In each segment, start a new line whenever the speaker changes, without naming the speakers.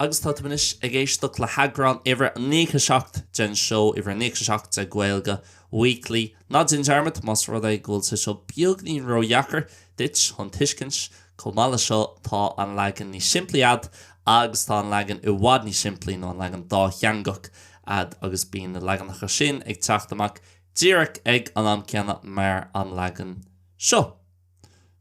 Agus tá tú anois ag éisteacht le heagrán uimhir a 97 den seó, uimhir a 97 de Gaeilge Weekly. Ná déan dearmad, más rud é go bhfuil sé seo beagainín ró-dheacair duit chun tuiscint. Chomh maith leis seo, tá an leagan níos simplí a'd agus tá an leagan i bhfad níos simplí nó an leagan dátheangach a'd agus bíonn na leaganacha sin ag teacht amach díreach ag an am céanna mar an leagan seo.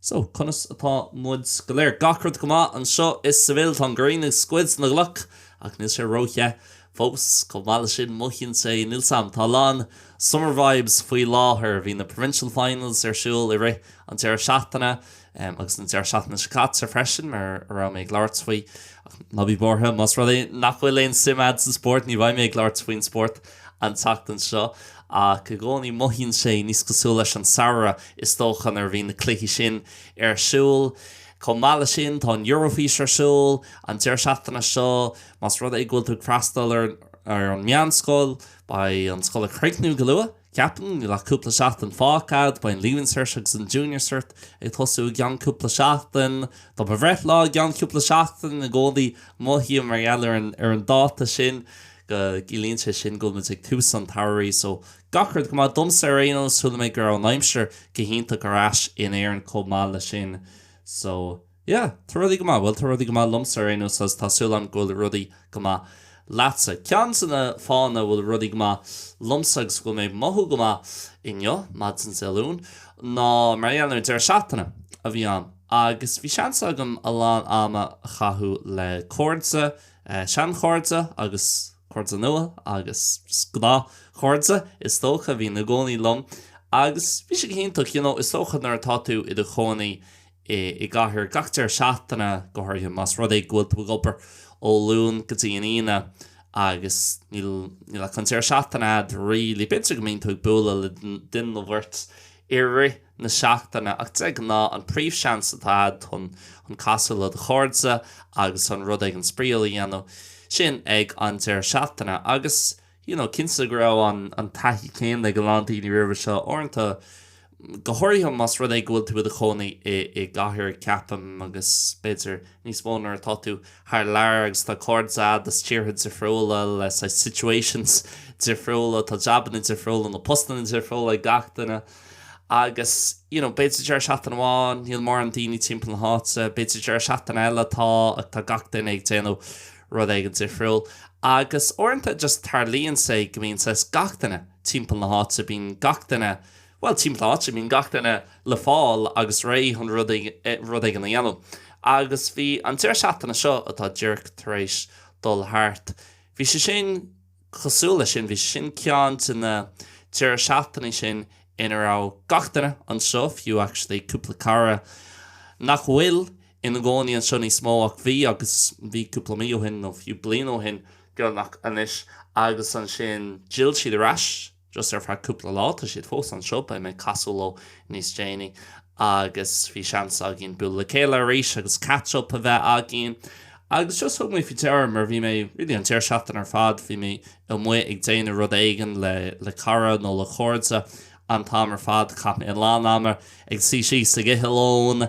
So, conas atá muid go léir? Gach rud go maith anseo i Seville. Tá an ghrian ag scoilteadh na gcloch, ach níl sé ró-the fós. Chomh maith leis sin, mothaíonn sé níos am. Tá a lán summer vibes faoi láthair. Bhí na provincial finals ar siúl i rith an deireadh seachtaine, agus an deireadh seachtaine seo caite freisin, mar a raibh mé ag labhairt faoi. Ach ná bí buartha, más rud é nach bhfuil aon suim a'd sa spórt, ní bheidh mé ag labhairt faoin spórt. an tseachtain seo, ach i gcónaí mothaíonn sé níos cosúil leis an samhradh, is dócha, nuair a bhíonn na cluichí sin ar siúl. Chomh maith leis sin, tá an Eurofís ar siúl an deireadh seachtaine seo. Más rud é go bhfuil tú ag freastal ar an meánscoil, beidh an scoil ag críochnú go luath, ceapaim. Níl ach cúpla seachtain fágtha a'd. Beidh an Leaving Cert agus an Junior Cert ag tosú i gceann cúpla seachtain. Tá mo bhreithlá i gceann cúpla seachtain i gcónaí, mothaím, mar gheall ar an dáta sin. go gciallaíonn sé sin go bhfuil muid ag tús an tsamhraidh so gach rud go maith, domsa ar aon nós, chuala mé go raibh an aimsir go hiontach ar ais in Éirinn chomh maith leis sin so yeah, tá rudaí go maith, bhuel tá rudaí go maith liomsa ar aon nós agus tá súil agam go bhfuil rudaí go maith leatsa. Ceann de na fáthanna a bhfuil rudaí go maith liomsa agus go bhfuil mé ag mothú go maith inniu, maidin Dé Luain, ná mar gheall ar an deireadh seachtaine a bhí a'm agus bhí seans agam a lán ama a chaitheamh le cairde, Seanchairde agus cairde nua agus gnáthchairde is dócha a bhíonn i gcónaí liom agus bhí sé go hiontach, you know is dócha nuair atá tú i do chónaí i gcathair gach deireadh seachtaine, go háirithe más rud é go bhfuil tú ag obair ó Luan go dtí an Aoine agus níl ach an deireadh seachtaine a'd really, b'fhéidir go mbíonn tú ag bualadh le duine nó beirt, i rith na seachtaine, ach de ghnáth, an príomhsheans atá a'd chun casadh le do chairde agus chun rud éigin spraíúil a dhéanamh, sin ag an deireadh seachtaine. Agus, you know, cinnte go raibh an taithí céanna ag a lán daoine roimhe seo, uaireanta, go háirithe más rud é go bhfuil tú i do chónaí i gcathair, ceapaim, agus b'fhéidir, níos mó nuair atá tú thar lear agus tá cairde a'd as tíortha difriúla le saghas situations difriúla, tá jabanna difriúla nó postanna difriúla ag gach duine agus you know b'fhéidir deireadh seachtaine amháin níl mórán daoine timpeall na háite, b'fhéidir deireadh seachtaine eile tá ach tá gach duine ag déanamh rud éigin difriúil agus uaireanta just tarlaíonn sé go mbíonn saghas gach duine timpeall na háite, bíonn gach duine. Bhuel, timpeall na háite mbíonn gach duine le fáil agus réidh chun rud éigin a dhéanamh. Agus bhí an deireadh seachtaine seo atá díreach tar éis dul thart, bhí sé sin cosúil leis sin. Bhí sé sin ceann de na deireadh seachtainí sin ina raibh gach duine anseo, fiú actually cúpla cara nach bhfuil ina gcónaí anseo níos mó ach bhí agus bhí cúpla mí ó shin nó fiú bliain ó shin beagnach anois. Agus ansin d'fhill siad ar ais. Just ar feadh cúpla lá. Tá siad fós anseo. Beidh mé ag casadh leo níos déanaí agus bhí seans againn bualadh le chéile arís agus catch up a bheith againn. Agus just thug mé faoi deara, mar bhí mé, really an deireadh seachtaine ar fad, bhí mé amuigh ag déanamh rud éigin le, le cara nó le chairde an t-am ar fad. Chaith mé a lán ama ag suí síos ag ithe lóin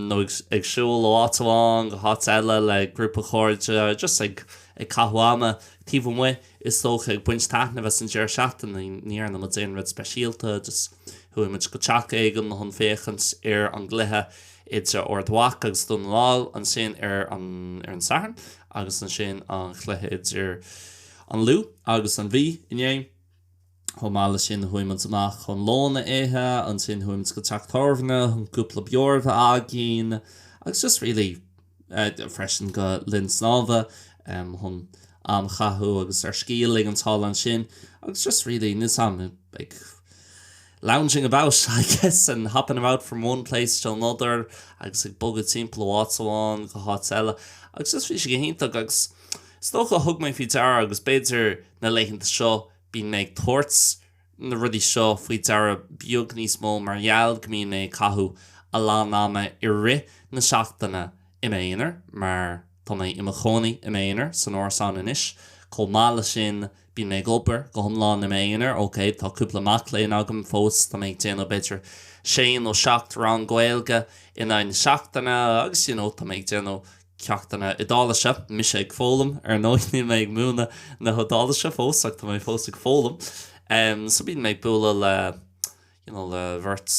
nó ag, ag siúl ó áit amháin go háit eile le grúpa chairde, just ag, ag caitheamh ama taobh amuigh. Is dócha, ag baint taitnimh as an deireadh seachtaine, ní dhearna muid aon rud speisialta, just chuaigh muid go teach éigin chun féachaint ar an gcluiche idir Ard Mhacha agus Dún na nGall, ansin ar an Satharn agus ansin an chluiche idir an Lú agus an Mhí inné. Chomh maith leis sin, chuaigh muid amach chun lón a ithe, ansin chuaigh muid go teach tábhairne chun cúpla beoir a bheith againn, agus just really, freisin go linn snámha, chun am a chaitheamh agus ár scíth a ligean thall ansin, agus just really, níl 's agam, ag lounging about, I guess, and hopping about from one place to another, agus ag bogadh timpeall ó áit amháin go háit eile, agus just bhí sé go hiontach, agus is dócha, thug mé faoi deara, agus b'fhéidir na laethanta seo, Bíonn mé ag tabhairt na rudaí seo faoi deara beag níos mó mar gheall go mbíonn mé ag caitheamh a lán ama i rith na seachtaine i m'aonar, mar tá mé i mo chónaí i m'aonar san árasán anois. Chomh maith leis sin, bíonn mé ag obair go hiomlán i m'aonar, ok, tá cúpla mac léinn agam fós, tá mé ag déanamh b'fhéidir sé nó seacht rang Gaeilge in aghaidh na seachtaine agus you know tá mé ag déanamh ceachtanna Iodáilise. Mise ag foghlaim, ar ndóigh. Níl mé ag múineadh na hIodáilise fós, ach tá mé fós ag foghlaim. So bíonn mé ag bualadh le you know le bheirt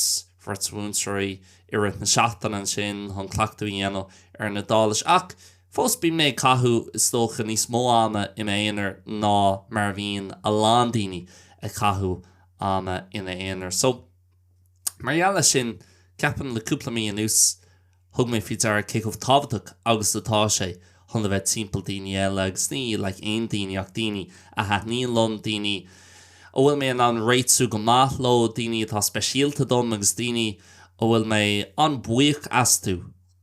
bheirt mhúinteoirí i rith na seachtaine ansin chun cleachtadh a dhéanamh ar an Iodáilis. Ach fós bíonn mé ag caitheamh, is dócha, níos mó ama i m'aonar ná mar a bhíonn a lán daoine ag caitheamh ama ina aonar. So mar gheall air sin, ceapaim le cúpla mí anuas, Thug mé faoi deara cé chomh tábhachtach agus atá sé chun a bheith timpeall daoine eile agus ní like aon daoine ach daoine a thaitníonn liom, daoine a bhfuil mé in ann réitiú go maith leo, daoine atá speisialta dom agus daoine a bhfuil mé an-buíoch astu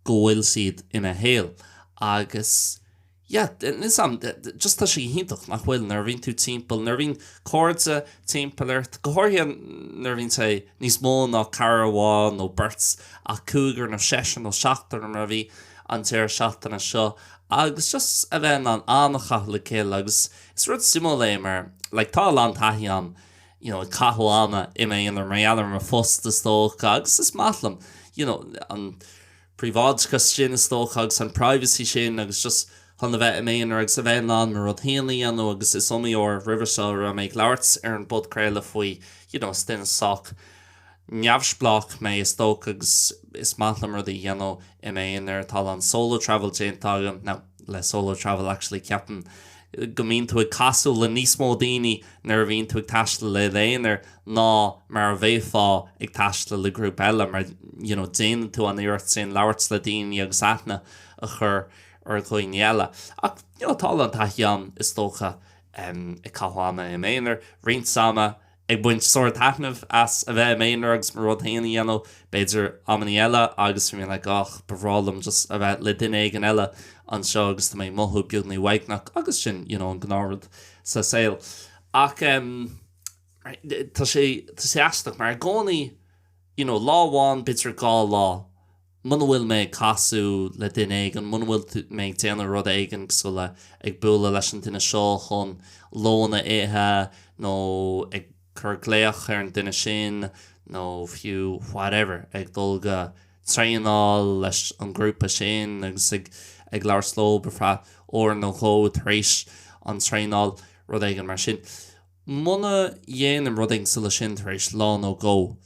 go bhfuil siad i mo shaol agus. Yeah, is am, just tá sé go hiontach nach bhfuil nuair a bhíonn tú timpeall, nuair a bhíonn cairde timpeall ort, go háirithe nuair a bhíonn sé níos mó ná cara amháin nó beirt ach cúigear nó seisear nó seachtar mar a bhí an deireadh seachtaine seo agus just a bheith in ann am a chaitheamh le chéile agus is rud suimiúil é mar like tá a lán taithí agam you know, ag caitheamh ama i m'aonar mar gheall ar mo phost is dócha agus is maith liom you know, an príobháideachas sin, is dócha, agus an privacy sin agus just chun a bheith i m'aonar agus a bheith in ann mo rud féin a dhéanamh agus is iomaí uair roimhe seo a raibh mé ag labhairt ar an bpodchraoladh faoi you know is duine sách neamhspleách mé is dócha agus is maith liom rudaí a dhéanamh i m'aonar tá a lán solo travel déanta agam now, le solo travel actually ceapaim go mbíonn tú ag casadh le níos mó daoine nuair a bhíonn tú ag taisteal i d'aonar ná mar a bheifeá ag taisteal le grúpa eile mar you know déanann tú an iarracht sin labhairt le daoine agus aithne a chur ar dhaoine eile ach you know tá a lán taithí agam is dócha ag caitheamh ama i m'aonar roinnt ama ag baint sár-taitnimh as a bheith i m'aonar agus mo rud féin a dhéanamh, b'fhéidir, amannaí eile agus bím like ach, ba bhreá liom just a bheith le duine éigin eile anseo agus tá mé ag mothú beagní uaigneach agus sin, you know, an gnáthrud sa saol. Ach em, tá sé, tá sé aisteach mar i gcónaí, you know, lá amháin, b'fhéidir dhá lá, Muna bhfuil mé ag casadh le duine éigin, muna bhfuil mé ag déanamh rud éigin sóisialta ag bualadh leis an duine seo chun lón a ithe, nó ag cur glaoch ar an duine sin, nó fiú whatever, ag dul go traenáil leis an ghrúpa sin agus ag labhairt leo ar feadh uair nó dhó tar éis an traenáil, rud éigin mar sin. Muna dhéanaim rud éigin sóisialta mar sin, tar éis lá nó dhó,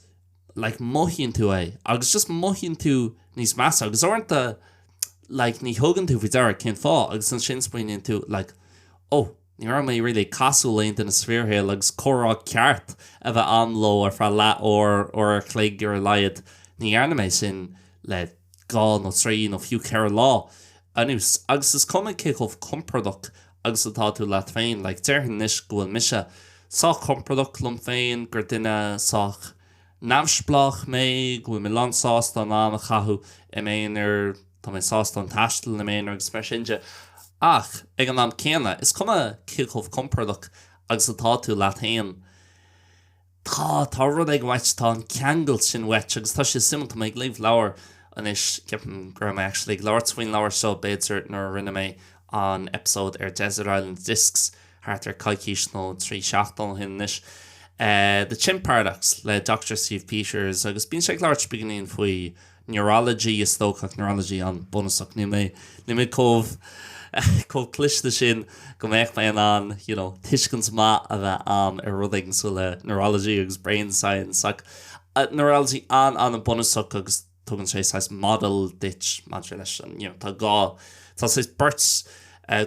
like mothaíonn tú é agus just mothaíonn tú níos measa agus uaireanta like ní thugann tú faoi deara cén fáth agus ansin smaoiníonn tú like ó ní raibh mé really ag casadh le haon duine sa bhfíorshaol agus comhrá ceart a bheith agam leo ar feadh leath uair uair a' chloig ar a laghad ní dhearna mé sin le dhá nó trí nó fiú ceithre lá anuas agus is cuma cé chomh compordach agus atá tú leat féin. Like, déarfainn anois go bhfuil mise sách compordach liom féin, gur duine sách neamhspleách mé, go bhfuil mé lánsásta am a chaitheamh i m'aonar, tá mé sásta ag taisteal i m'aonar agus mar sin de. Ach, ag an am céanna, is cuma cé chomh compordach agus atá tú leat féin, Tá, tá rud éigin uait, tá an ceangal sin uait agus tá sé suimiúil, tá mé ag léamh leabhar anois, ceapaim go raibh mé actually ag labhairt faoin leabhar seo b'fhéidir nuair a rinne mé an episode ar Desert Island Discs thart ar coicís nó trí seachtaine ó shin anois, The Chimp Paradox le Dr. Steve Peters agus bíonn sé ag labhairt beagainín faoi Neurology, is dócha, neurology an bunúsach. Níl mé, níl mé chomh, chomh cliste sin go mbeadh mé in ann, you know, tuiscint maith a bheith a'm ar rud éigin cosúil le neurology agus brain science ach neurology an, an, an bunúsach agus tugann sé saghas model duit maidir leis an, you know, tá dhá, tá saghas beirt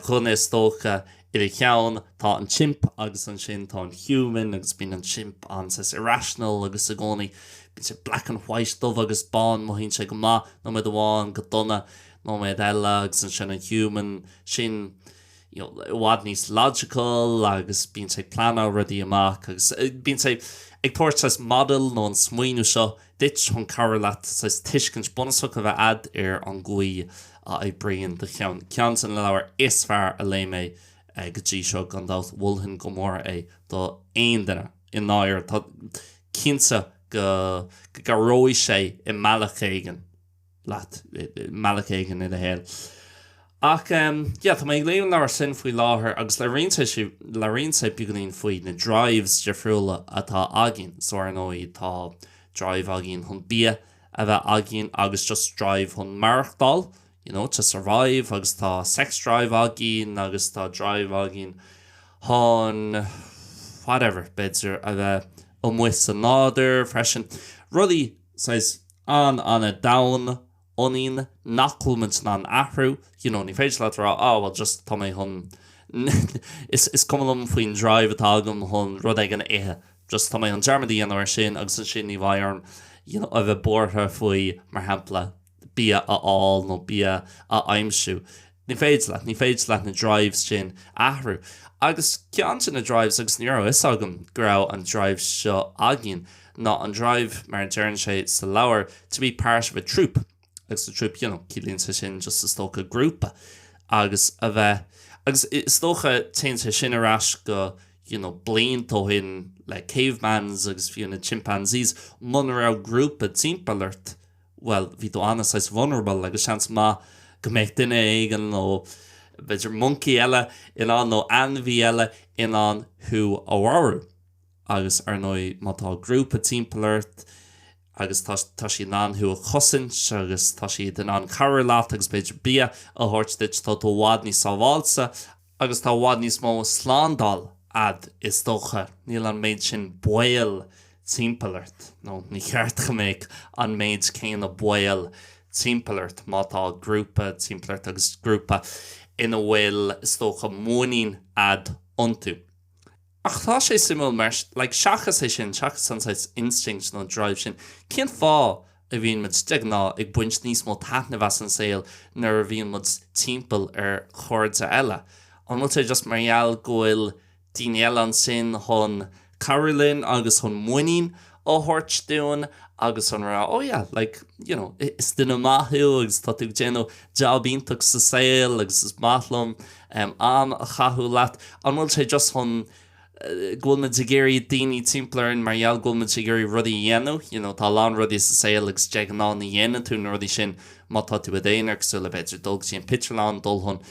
duine is dócha I do cheann tá an chimp agus ansin tá an human agus bíonn an chimp an-saghas irrational agus i gcónaí bíonn sé black and white, dubh agus bán, mothaíonn sé go maith nóiméad amháin, go dona nóiméad eile agus ansin an human sin you know, i bhfad níos logical agus bíonn sé ag pleanáil rudaí amach agus eh, bíonn sé ag tabhairt saghas model nó an smaoineamh seo duit chun cabhrú leat saghas tuiscint bunúsach a bheith a'd ar an gcaoi a n-oibríonn do cheann. Ceann de na leabhair is fearr a léigh mé go dtí seo gan dabht. Mholfainn go mór é do aon duine. I ndáirire, tá cinnte go go gcabhróidh sé i mbealach éigin. leat i mbealach éigin i do shaol. Ach, em, yeah, tá mé ag léamh an leabhair sin faoi láthair agus labhraíonn sé si- labhraíonn sé beagáinín faoi na drives difriúla atá againn. So, ar ndóigh, tá drive againn chun bia a bheith againn agus just drive chun maireachtáil, you know, to survive agus tá sex drive againn agus tá drive againn chun whatever, b'fhéidir a bheith amuigh sa nádúr freisin. Rudaí. saghas an-, an-domhain ionainn nach bhfuil muid in ann athrú, you know, ní féidir leat a rá ah bhuel just tá mé chun, is cuma liom faoin drive atá agam chun rud éigin a ithe, just tá mé chun dearmad a dhéanamh ar sin agus ansin ní bheidh orm, you know, a bheith buartha faoi mar shampla. bia a fháil nó bia a aimsiú. Ní féidir leat. Ní féidir leat na drives sin a athrú. Agus ceann de na drives, agus ní raibh a fhios agam go raibh an drive seo againn, ná an drive, mar a deireann sé sa leabhar, to be part of a troop. Agus a troop, you know, ciallaíonn sé sin just is dócha grúpa. Agus a bheith, agus is dócha téann sé sin ar ais go, you know, blianta ó shin le cavemans agus fiú na chimpanzees, muna raibh grúpa timpeall ort, bhuel, bhí tú an-saghas vulnerable agus seans maith go mbeadh duine éigin nó b'fhéidir moncaí eile in ann, nó ainmhí eile in ann thú a mharú. Agus ar ndóigh má tá grúpa timpeall ort agus tá, tá siad in ann thú a chosaint agus tá siad in ann cabhrú leat agus b'fhéidir bia a thabhairt duit, tá tú i bhfad níos sábháilte. Agus tá i bhfad níos mó slándáil a'd, is dócha. Níl an méid sin baol timpeall ort, nó ní cheart go mbeadh an méid céanna baol timpeall ort, má tá grúpa timpeall ort, agus grúpa ina bhfuil, is dócha, muinín a'd iontu. Ach tá sé suimiúil mar, like, seachas é sin, seachas an saghas instinct nó drive sin, cén fáth a bhíonn muid, de ghnáth, ag baint níos mó taitnimh as an saol nuair a bhíonn muid timpeall ar chairde eile? An bhfuil sé just mar gheall go bhfuil daoine eile ansin chun cabhrú linn agus chun muinín a thabhairt dúinn agus an rá oh yeah, like, you know, is duine maith thú agus tá tú ag déanamh jab iontach sa saol agus is maith liom am a chaitheamh leat. An bhfuil sé just chun go bhfuil muid ag iarraidh daoine timpeall orainn mar gheall go bhfuil muid ag iarraidh rudaí a dhéanamh, you know, tá a lán rudaí sa saol agus de ghnáth ní dhéanann tú na rudaí sin má tá tú i d'aonar cosúil le b'fhéidir dul go dtí an phictiúrlann, dul chun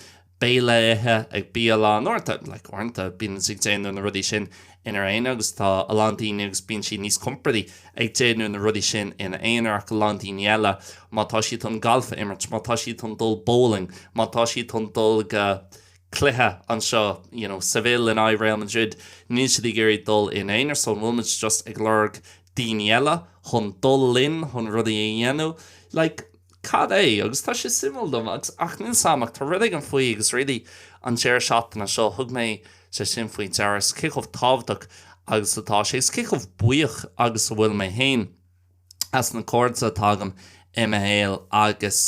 béile a ithe ag bialann, uaireanta, like, uaireanta bíonn siad ag déanamh na rudaí sin inár aonar agus tá a lán daoine agus bíonn siad níos compordaí ag déanamh na rudaí sin ina n-aonar ach a lán daoine eile, má tá siad chun galf a imirt, má tá siad chun dul bowling, má tá siad chun dul go cluiche anseo, you know, Seville in aghaidh Real Madrid, níl siad ag iarraidh dul ina n-aonar so an bhfuil muid just ag lorg daoine eile chun dul linn, chun rudaí a dhéanamh, like, cad é, agus tá sé suimiúil dom, agus, ach níl a fhios a'm, ach tá rud éigin faoi, agus really an deireadh seachtaine seo, thug mé sé sin faoi deara, is cé chomh tábhachtach agus atá sé, is cé chomh buíoch agus a bhfuil mé féin as na cairde atá agam i mo shaol agus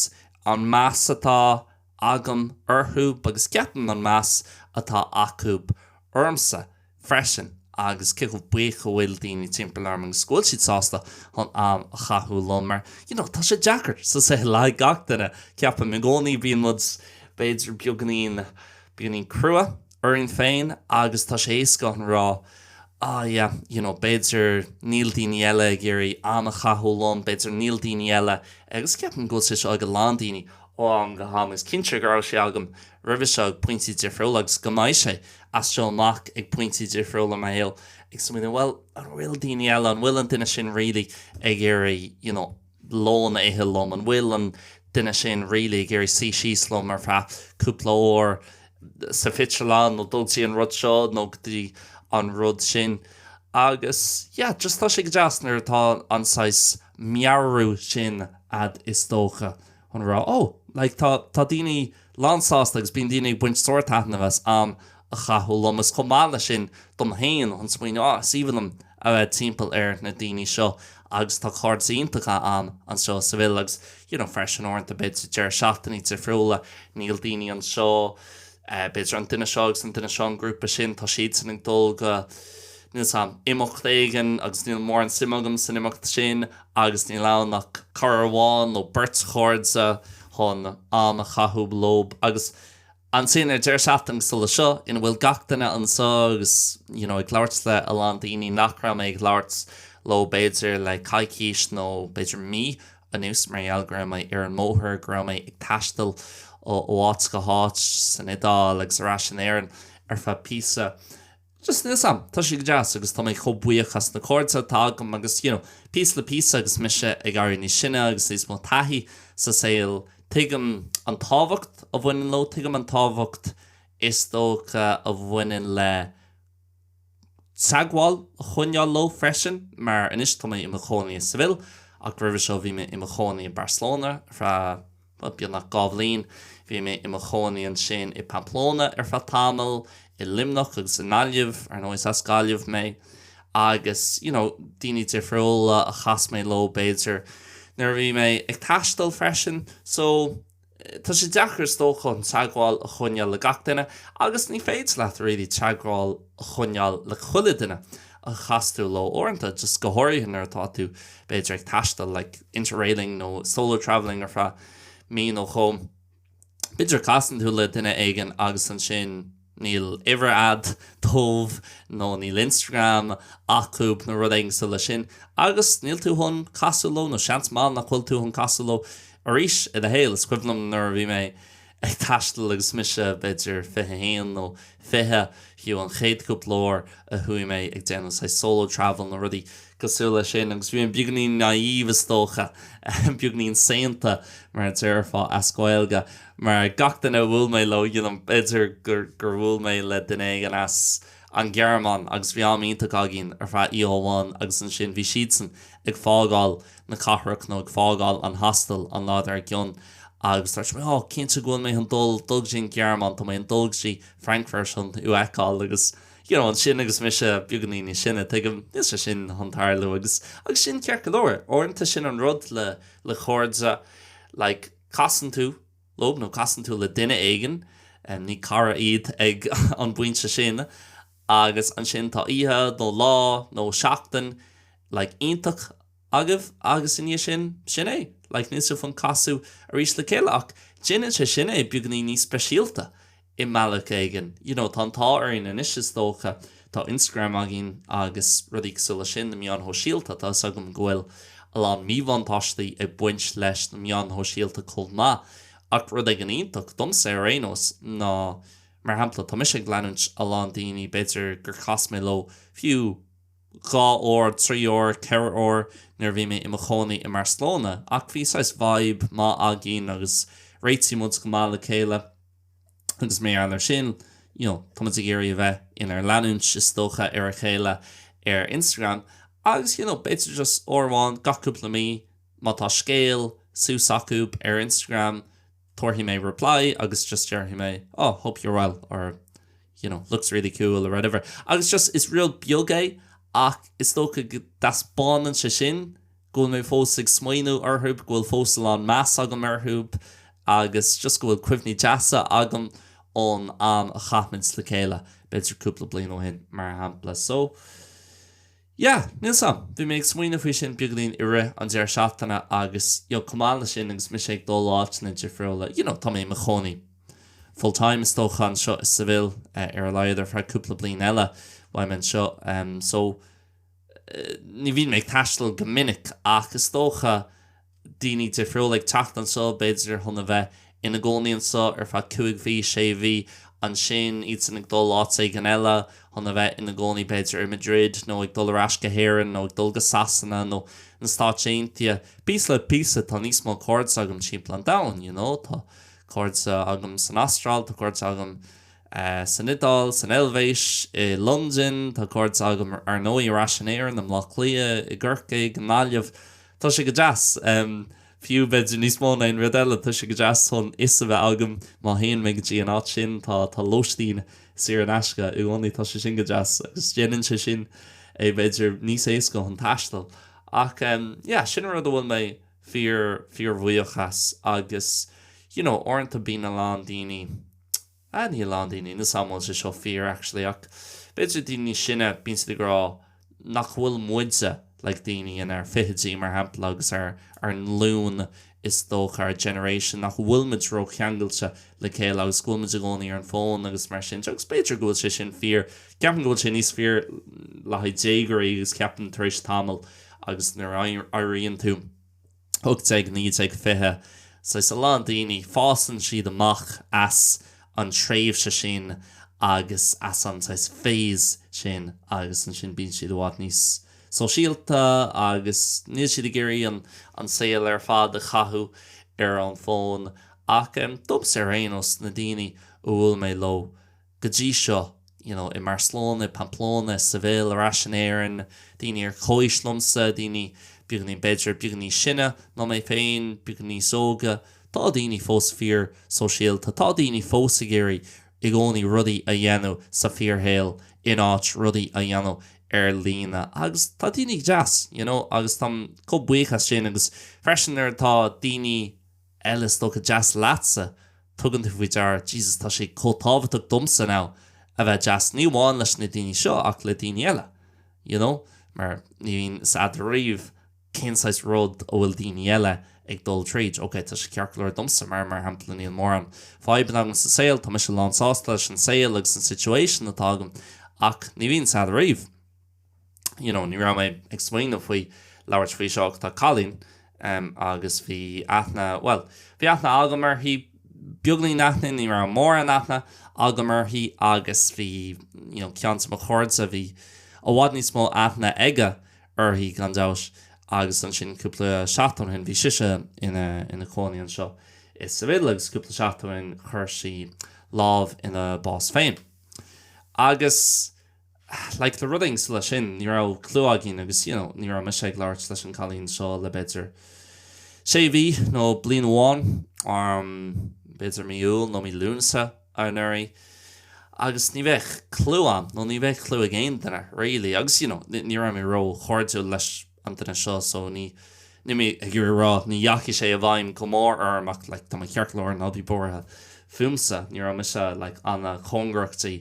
an meas atá agam orthu agus ceapaim an meas atá acu ormsa. freisin agus cé chomh buíoch go bhfuil daoine timpeall orm agus go bhfuil siad sásta chun am a chaitheamh liom mar you know tá sé deacair sa saol le gach duine ceapaim i gcónaí bíonn muid b'fhéidir beagainín beagainín crua orainn féin agus tá sé éasca an rá ah yeah you know b'fhéidir níl daoine eile ag iarraidh am a chaitheamh liom b'fhéidir níl daoine eile agus ceapaim go bhfuil sé seo ag a lán daoine ó am go ham is cinnte go raibh sé agam roimhe seo ag pointí difriúla agus go mbeidh sé as seo amach, ag pointí difriúla i mo shaol, ag smaoineamh, bhuel, an bhfuil daoine eile, an bhfuil an duine sin really ag iarraidh, you know, lón a ithe liom, an bhfuil an duine sin really ag iarraidh suí síos liom ar feadh cúpla uair sa phictiúrlann nó dul go dtí an rud seo nó go dtí an rud sin. Agus, yeah, just tá sé go deas nuair atá an saghas meabhrú sin a'd is dócha. chun an rá, ó, like, tá, tá daoine lánsásta agus bíonn daoine ag baint sárthaitnimh as am a chaitheamh liom. Is chomh maith leis sin dom féin chun smaoineamh, ah, is aoibhinn liom a bheith timpeall ar na daoine seo agus tá cairde iontacha a'am anseo i Seville agus, you know, freisin uaireanta b'fhéidir deireadh seachtainí difriúla, níl daoine anseo, b'fhéidir, an duine seo agus an duine seo, an grúpa sin, tá siadsan ag dul go, níl 's am, imeacht éigin agus níl mórán suime agam san imeacht sin agus níl ann ach cara amháin nó beirt chairde chun am a chaitheamh leob. Agus ansin ar deireadh seachtaine cosúil leis seo ina bhfuil gach duine anseo agus you know ag labhairt le a lán daoine nach raibh mé ag labhairt leo b'fhéidir le coicís nó b'fhéidir mí, anuas mar gheall go raibh mé ar an mbóthar, go raibh mé ag taisteal ó áit go háit san Iodáil agus ar ais in Éirinn ar feadh píosa just níl 's am, tá sé go deas agus tá mé chomh buíoch as na cairde atá agam agus you know píosa le píosa agus mise ag éirí níos sine agus níos mó taithí sa saol, tuigim an tábhacht a bhaineann leo, tuigim an tábhacht is dócha a bhaineann le. teagmháil a choinneáil leo freisin, mar anois tá mé i mo chónaí i Seville, ach roimhe seo bhí mé i mo chónaí i Barcelona ar feadh, beagnach dhá bhliain, bhí mé i mo chónaí ansin i Pamplona ar feadh tamaill, i Luimneach agus i nGaillimh, ar ndóigh, as Gaillimh mé, agus, you know, daoine difriúla a chas mé leo, b'fhéidir, nuair a bhí mé ag taisteal freisin. So. Tá sé deacair is dócha an teagmháil a choinneáil le gach duine agus ní féidir leat really teagmháil a choinneáil le chuile duine a chas tú leo uaireanta, just go háirithe nuair atá tú b'fhéidir ag taisteal like interrailing nó solo travelling ar feadh mí nó dhó, b'fhéidir casann tú le duine éigin agus ansin. Níl uimhir a'd dóibh nó níl Instagram acub nó rud éigin cosúil le sin agus níl tú chun casadh leo nó seans maith nach bhfuil tú chun casadh leo arís i do shaol. Is cuimhin liom nuair a bhí mé ag taisteal agus mise b'fhéidir 21 nó 20, fiú, an chéad cúpla uair a chuaigh mé ag déanamh saghas solo travel nó rudaí cosúil le sin agus bhí mé beagainín naive is dócha, beagainín saonta mar a déarfá as Gaeilge. Mar gach duine a bhuail mé leo, b'fhéidir gur bhuail mé le duine éigin as an nGearmáin agus bhí am iontach againn ar feadh oíche amháin agus ansin bhí siadsan ag fágáil na cathrach nó ag fágáil an hostel an lá dár gcionn agus dúirt mé oh cinnte go bhfuil mé chun dul dul go dtí an Ghearmáin tá mé chun dul go dtí Frankfurt chun thú a fheiceáil agus you know ansin agus mise beagainín níos sine tuigim níl sé sin chun tarlú agus agus sin ceart go leor uaireanta sin an rud le le cairde like Casann tú leob, nó casann tú le duine éigin, ní cara iad ag an bpointe sin, agus ansin tá oíche, nó lá, nó seachtain, like, iontach agaibh, agus i ndiaidh sin, sin é, like, níl sibh chun casadh arís le chéile, ach déanann sé sin é beagainín níos speisialta, i mbealach éigin. You know, tá an t-ádh orainn anois is dócha, tá Instagram againn agus rudaí cosúil leis sin, na meáin shóisialta, tá 'fhios agam go bhfuil a lán míbhuntáistí ag baint leis na meáin shóisialta chomh maith ach rud éigin iontach, domsa ar aon nós, ná mar shampla, tá mise ag leanúint a lán daoine b'fhéidir gur chas mé leo fiú dhá uair, trí uair, ceithre uair nuair a bhí mé i mo chónaí i mBarcelona ach bhí saghas vibe maith againn agus réitigh muid go maith le chéile. Agus mar gheall ar sin, you know, tá muid ag iarraidh a bheith inár leanúint, is dócha, ar a chéile ar Instagram. Agus, you know, b'fhéidir just uair amháin gach cúpla mí, má tá scéal suas acu ar Instagram, tabharfaidh mé reply agus just déarfaidh mé, oh, hope you're well, or, you know, looks really cool, or whatever. Agus just, is rud beag é, ach is dócha go dtaispeánann sé sin, go bhfuil mé fós ag smaoineamh orthu, go bhfuil fós a lán meas agam orthu agus just go bhfuil cuimhní deasa agam ón am a chaith muid le chéile, b'fhéidir cúpla bliain ó shin, mar shampla. So. yeah, níl 's agam. Bhí mé ag smaoineamh faoi sin beagáinín i rith an deireadh seachtaine agus you know, chomh maith le sin agus mise ag dul áiteanna difriúla, you know, tá mé i mo chónaí full time is dócha anseo i Seville, ar a laghad ar feadh cúpla bliain eile, beidh mé anseo. So. ní bhíonn mé ag taisteal go minic ach is dócha daoine difriúla ag teacht anseo, b'fhéidir chun a bheith ina gcónaí anseo ar feadh cúig mhí, sé mhí, ansin iadsan ag dul áit éigin eile chun a bheith ina gcónaí, b'fhéidir i Madrid nó ag dul ar ais go hÉirinn nó ag dul go Sasana nó na Stáit Aontaithe. Píosa le píosa tá níos mó cairde agam timpeall an domhain, you know, tá cairde agam san Astráil, tá cairde agam san Iodáil, san Eilvéis, i Londain, tá cairde agam ar ndóigh ar ais in Éirinn, i mBlá Cliath, i gCorcaigh, i nGaillimh. Tá sé go deas. Fiú, b'fhéidir, níos mó ná aon rud eile, tá sé go deas chun fhios a bheith agam má théann mé go dtí an áit sin, tá lóistín saor in aisce i gcónaí, tá sé sin go deas agus déanann sé sin é, b'fhéidir, níos éasca chun taisteal. Ach, yeah, sin rud a bhfuil mé fíor, fíor bhuíoch as. Agus, you know, uaireanta bíonn a lán daoine. Ah, níl a lán daoine ní fheadar an bhfuil sé seo fíor, actually, ach b'fhéidir daoine níos sine, bíonn siad ag rá nach bhfuil muide, like daoine inár fichidí, mar shampla, agus ár nglúin, is dócha, ár generation, nach bhfuil muid ró-cheangailte le chéile agus go bhfuil muid i gcónaí ar an bhfón agus mar sin de, agus b'fhéidir go bhfuil sé sin fíor. Ceapaim go bhfuil sé níos fíor le haghaidh déagóirí agus ceapaim tar éis tamaill agus nuair a éiríonn tú. 18, 19, 20, saghas, a lán daoine, fásann siad amach as an tréimhse sin agus as an saghas phase sin agus ansin bíonn siad i bhfad níos sóisialta agus níl siad ag iarraidh an, an saol ar fad a chaitheamh ar an bhfón. Ach domsa ar aon nós, na daoine a bhuail mé leo, go dtí seo, you know i mBarcelona, i Pamplona, i Seville, ar ais in Éirinn, daoine ar chomhaois liomsa, daoine beagáinín, b'fhéidir, beagáinín níos sine ná mé féin, beagáinín níos óga, tá daoine fós fíor-sóisialta, tá daoine fós ag iarraidh i gcónaí rudaí a dhéanamh sa fíorshaol in áit rudaí a dhéanamh ar líne agus tá daoine go deas, you know agus táim chomh buíoch as sin agus freisin nuair atá daoine. eile, is dócha, deas leatsa, tugann tú faoi deara, Jesus, tá sé chomh tábhachtach domsa now a bheith deas, ní amháin leis na daoine seo ach le daoine eile, you know, mar ní bhíonn 's a'd ariamh cén saghas rud a bhfuil daoine eile ag dul tríd, ok, tá sé ceart go leor domsa mar, mar shampla, níl mórán fadhbanna agam sa saol, tá mise lán-sásta leis an saol agus an situation atá agam ach ní bhíonn 's a'd ariamh. you know, ní raibh mé ag smaoineamh faoi labhairt faoi seo ach tá cailín agus bhí aithne, bhuel, bhí aithne agam uirthi, beagáinín aithne, ní raibh mórán aithne agam uirthi agus bhí, you know, ceann de mo chairde, bhí i bhfad níos mó aithne aige uirthi, gan dabht, agus ansin cúpla seachtain ó shin bhí sise ina cónaí anseo i Seville agus cúpla seachtain ó shin chuir sí lámh ina bás féin. Agus. like le rud éigin cosúil leis sin ní raibh clue againn agus you know ní raibh mise ag labhairt leis an gcailín seo le b'fhéidir sé mhí nó bliain amháin um b'fhéidir mí Iúil nó mí Lúnasa anuraidh agus ní bheadh clue agam nó ní bheadh clue ag aon duine really agus you know ní raibh mé ró chairdiúil leis an duine seo so ní níl mé ag iarraidh a rá ní dheachaigh sé i bhfeidhm go mór orm ach like tá mé ceart go leor ná bí buartha fúmsa ní raibh mise like an-chóngarach di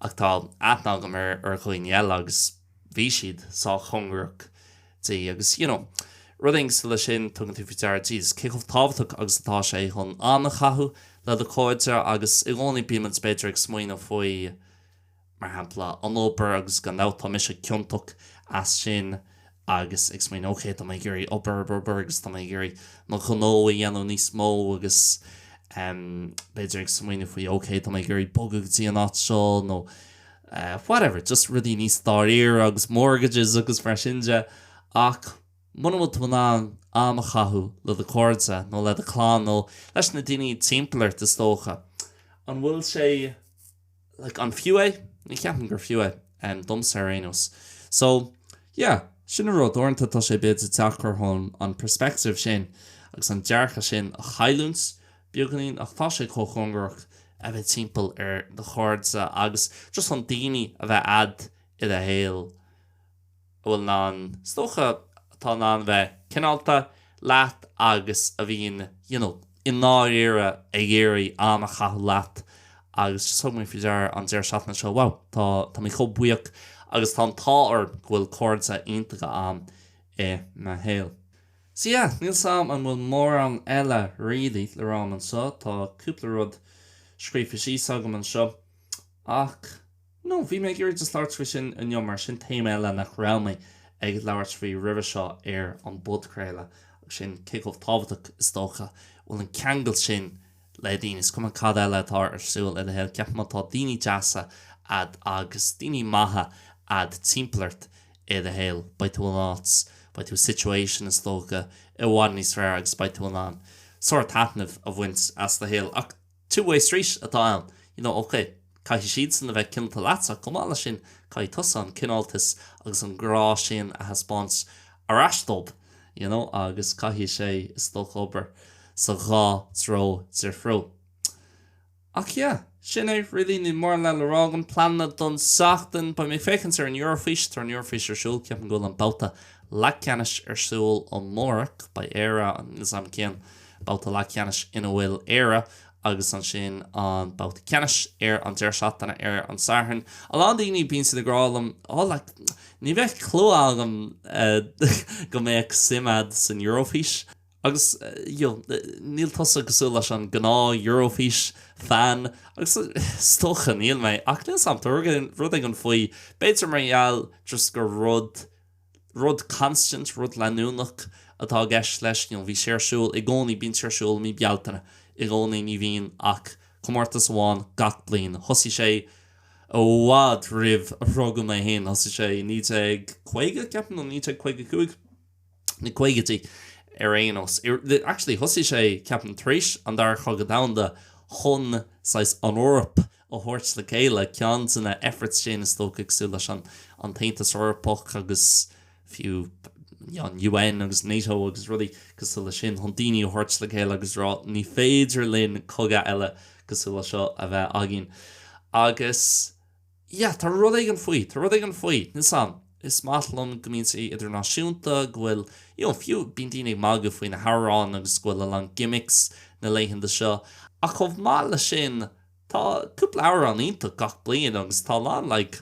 ach tá aithne agam ar ar dhaoine eile agus bhí siad sách cóngarach di agus you know rud éigin cosúil leis sin tugann tú faoi deara Jesus cé chomh tábhachtach agus atá sé chun am a chaitheamh le do chairde agus i gcónaí bímid b'fhéidir ag smaoineamh faoi mar shampla, an obair agus gan dabht tá mise ciontach as sin agus ag smaoineamh ok, tá mé ag iarraidh obair, obair, obair agus tá mé ag iarraidh mo ghnó a dhéanamh níos mó agus em b'fhéidir ag smaoineamh faoi ok, tá mé ag iarraidh bogadh go dtí an áit seo nó eh whatever, just rudaí níos dáiríre agus mortgages agus mar sin de ach muna bhfuil tú in ann am a chaitheamh le do chairde nó le do chlann nó leis na daoine timpeall ort is dócha, an bhfuil sé. like, an fiú é? Ní cheapaim gur fiú é, um, domsa ar aon nós. So, yeah, sin an rud, uaireanta tá sé bit deacair chun an perspective sin agus an dearcadh sin a chailliúint beagáinín ach tá sé chomh tábhachtach a bheith timpeall ar do chairde agus just chun daoine a bheith a'd i do shaol. a bhfuil in ann, is dócha, atá in ann a bheith cineálta leat agus a bhíonn you know i ndáiríre ag iarraidh am a chaitheamh leat agus just thug mé faoi deara an deireadh seachtaine seo wow tá tá mé chomh buíoch agus tá an t-ádh orm go bhfuil cairde iontacha agam i mo shaol. So yeah níl 's a'm an bhfuil mórán eile really le rá a'm anseo, tá cúpla rud scríofa síos agam anseo ach. No, bhí mé ag iarraidh just labhairt faoi sin inniu mar sin téama eile nach raibh mé ag labhairt faoi roimhe seo ar an bpodchraoladh agus sin cé chomh tábhachtach is dócha bhfuil an ceangal sin le daoine, is cuma cad eile atá ar siúl i do shaol, ceapaim má tá daoine deasa a'd agus daoine maithe a'd timpeall ort i do shaol, beidh tú in áit, beidh tú i situation is dócha i bhfad níos fearr agus beidh tú in ann sort of taitneamh a bhaint as do shaol ach. Two-way street atá ann. You know, OK, caithfidh siadsan a bheith cineálta leatsa, chomh maith leis sin, caithfidh tusa an cineáltas agus an grá sin a thaispeáint ar ais dóibh, you know, agus caithfidh sé, is dócha, obair sa dhá threo difriúil. Ach yeah, sin é really, níl mórán eile le rá agam. Pleananna don tseachtain, beidh mé ag féachaint ar an Eurofís, tá an Eurofís ar siúl, ceapaim go bhfuil an babhta leathcheannais ar siúl amárach, beidh Éire sa chéad, babhta leathcheannais ina bhfuil Éire agus ansin an babhta ceannais ar an deireadh seachtaine ar an Satharn. A lán daoine, bíonn siad ag rá liom, oh like, ní bheadh clue agam go mbeadh suim a'd san Eurofís. Agus you know, níl tusa cosúil leis an gnáth Eurofís fan agus is dócha níl mé ach níl 's a'm, tá rud éigin faoi, b'fhéidir mar gheall just gur rud, rud constant, rud leanúnach atá i gceist leis, you know bhí sé ar siúl i gcónaí, bíonn sé ar siúl i mí Bealtaine i gcónaí, ní bhíonn ach comórtas amháin gach bliain. Thosaigh sé i bhfad roimh a rugadh mé féin, thosaigh sé i 1950 ceapaim nó 1955, na caogaidí ar aon nós. Actually thosaigh sé ceapaim tar éis an Dara Cogadh Domhanda chun saghas an Eoraip a. a thabhairt le chéile. Ceann de na efforts sin is dócha cosúil leis an tAontas Eorpach agus fiú an UN agus Nato agus rudaí cosúil leis sin chun daoine a thabhairt le chéile agus rá ní féidir linn cogadh eile cosúil leis seo a bheith againn. Agus yeah, tá rud éigin faoi, tá rud éigin faoi. Níl fhios a'm. Is maith liom go mbíonn sé idirnáisiúnta, go bhfuil, you know, fiú bíonn daoine ag magadh faoi na hamhráin agus go bhfuil a lán gimmicks na laethanta seo ach chomh maith leis sin, Tá cúpla amhrán iontach gach bliain agus tá a lán like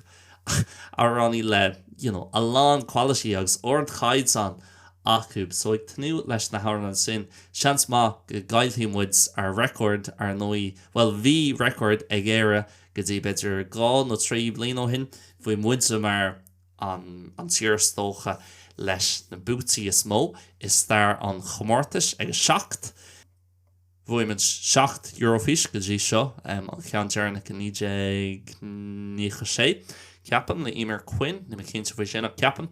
amhránaí le you know a lán quality agus ardchaighdeán acu so ag tnúth leis na hamhráin sin. Seans maith go gcaillfidh muid ár record ar ndóigh bhuel bhí record ag Éire go dtí b'fhéidir dhá nó trí bliain ó shin bhí muide mar an an tír is dócha leis na buaití is mó i stair an chomórtais ag a seacht Bhuaigh muid seacht Eurofís go dtí seo, an ceann deireanach i 1996, ceapaim, le Eimear Quinn, níl mé cinnte faoi sin, ach ceapaim.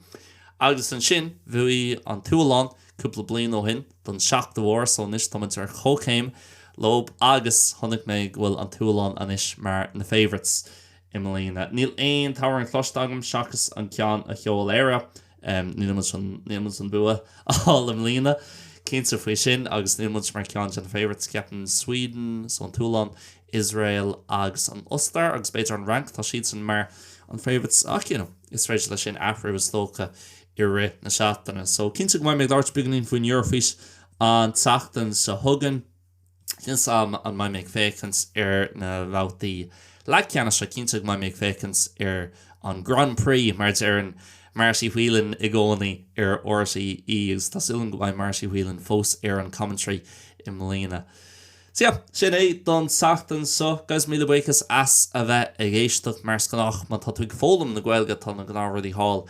Agus ansin bhuaigh an tSualainn cúpla bliain ó shin, don seachtú huair, so anois tá muid ar chomhchéim leo agus chonaic mé go bhfuil an tSualainn anois mar na favourites i mbliana. Níl aon t-amhrán cloiste agam seachas an ceann a sheol Éire Níl muid chun an bua a fháil i mbliana, cinnte faoi sin, agus níl muid mar cheann de na favourites. Ceapaim Sweden, so an tSualainn, Iosrael agus an Ostair, agus b'fhéidir an Fhrainc, tá siadsan mar an favourites ach you know, is féidir leis sin athrú is dócha i rith na seachtaine. So, cinnte go mbeidh mé ag labhairt beagáinín faoin Eurofís an tseachtain seo chugainn. Níl a fhios agam an mbeidh mé ag féachaint ar na babhtaí leathcheannais, ach cinnte go mbeidh mé ag féachaint ar an Grand Prix, mar a deireann Marty Whelan i gcónaí ar RTÉ, agus tá súil agam go mbeidh Marty Whelan fós ar an commentary i mbliana. Sea, sin é don tseachtain seo. Guys, míle buíochas as a bheith ag éisteacht. Mar is gnách, má tá tú ag foghlaim na Gaeilge, tá na gnáthrudaí thall